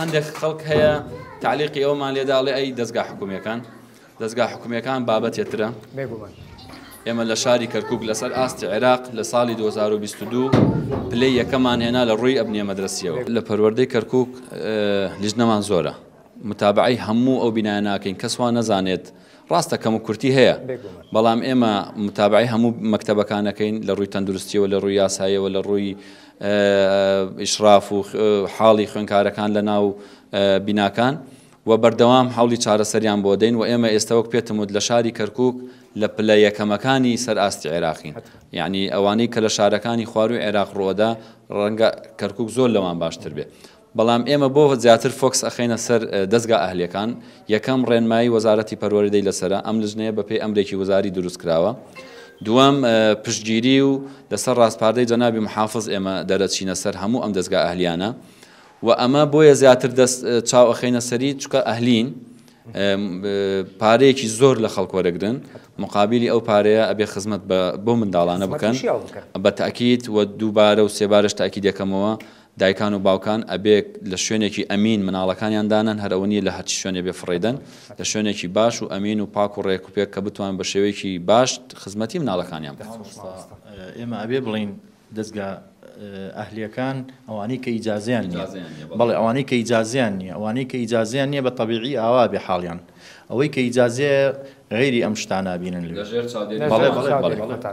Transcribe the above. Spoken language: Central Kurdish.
هەندێک خەڵک هەیە تعلیقی ئەومان لێدا ئەڵێ ئەی دەستگا حکومیەکان دەستگا حکومیەکان بابەتێ ترە بێگومان ئێمە لە شاری کەرکک لەسەر ئاستی عێراق لە ساڵی 2022 پلەی یەکەمان هێنا لە ڕووی ئەبنیە مەدرسیەوە لە پەروەردەی کەرکک لیژنەمان زۆرە متابعی هەموو ئەو بینایە ناکەین کەسوان نەزانێت ڕاستە کەم و کورتی هەیە بەڵام ئێمە متابعی هەموو مەکتەبەکانەکەین لە ڕووی تەندروستیەوە لە ڕووی یاسایەوە لە ڕووی ئیشراف و حاڵی خوێنکارەکان لە ناو بیناکان و بەردەوام حولی چارەسەریان بۆ دەین و ئێمە ئێستا وەک پێتم وت لە شاری کەرکک لە پلە یەکەمەکانی سەر ئاستی عێراقین یعنی ئەوانەی کە لە شارەکانی خواروی عێراق ڕۆدا ڕەنگە کەرکک زۆر لەوان باشتر بێ بەڵام ئێمە بۆ زیاتر فۆکس ئەخەینە سەر دەزگا ئەهلیەکان، یەکەم ڕێنمایی وەزارەتی پەروەردەی لەسەرە، ئەم لجنەیە بەپێی ئەمرێکی وزاری دروست کراوە، دووەم پشتگیری و لەسەر ڕاسپاردەی جەنابی محافز ئێمە دەرەچینە سەر هەموو ئەم دەزگا ئەهلیانە و ئەمە بۆیە زیاتر دەست چاو ئەخەینە سەری چونکە ئەهلین پارەیەکی زۆر لە خەڵک وەرەگرن مقابلی ئەو پارەیە ئەبێ خزمەت بۆ منداڵانە بکەن بە تاکیت و دووبارە و سێبارەش تاکی دەکەمەوە دایکان و باوکان ئەبێ لە شوێنێکی ئەمین مناڵەکانیان دانەن، هەر ئەوە نیە لە هەرچی شوێنێ بێ فڕێیدەن، لە شوێنێکی باش و ئەمین و پاک و ڕێک و پێک کە بتوان بە شێوەیەکی باش خزمەتی مناڵەکانیان بکەن. ئێمە ئەبێ بڵێین دەزگا ئەهلیەکان ئەوانەی کە ئیجازەیان نیە، بەڵێ ئەوانەی کە ئیجازەیان نیە، ئەوانەی کە ئیجازەیان نیە بە تەبیعی ئاوا ئەبێ حاڵیان ئەوەی کە ئیجازەیە غەیری ئەم شتانە ئەبینن لەوێ. بەڵێ بەڵێ.